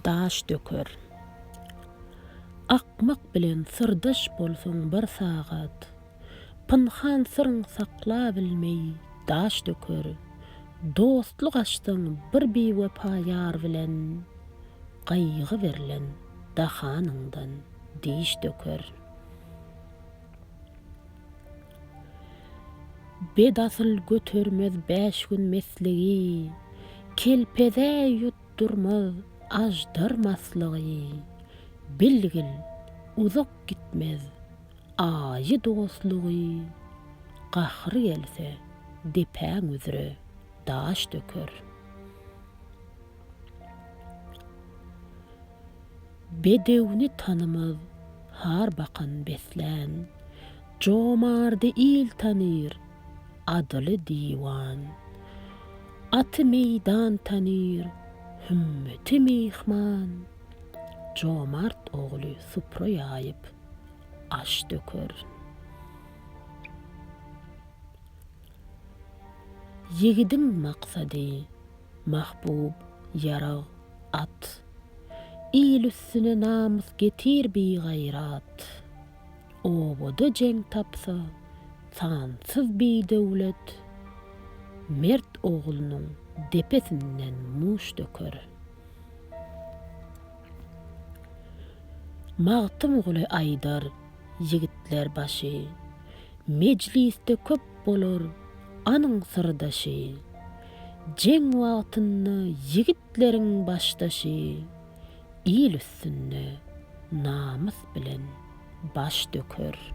Daş döker. Akmak bilen syrdaş bolsaň bir sagat, Pynhan syryň saklabilmeý daş döker. Dostluk açsaň bir biwepa ýar bilen, Gaýgy berlen dahanyňdan diş döker. Bedasyl götermez bäş gün mesligi, kelpezä ýutdurmaz aždar maslygy. Bilgil, uzak gitmez aýy dostlugy, gahry gelse, depäň üzre daş döker. Bedewni tanymaz har bakan beslän. Jomardy il tanyr, adyly diwan. Aty meýdan tanyr, hümmeti myhman. Jomart ogly supra ýaýyp, aş döker. Ýigidiň maksady, mahbub, ýarag, at. Il üstüne namys getir bigaýrat. Obada jeň tapsa, sansyz bidöwlet mert oglunyň depesinden muş döker. Magtymguly aýdar, Ýigitler başy, mejlisde köp bolar anyň syrdaşy, Jeň wagtynda ýigitleriň başdaşy, Il üstünde namys bilen baş döker.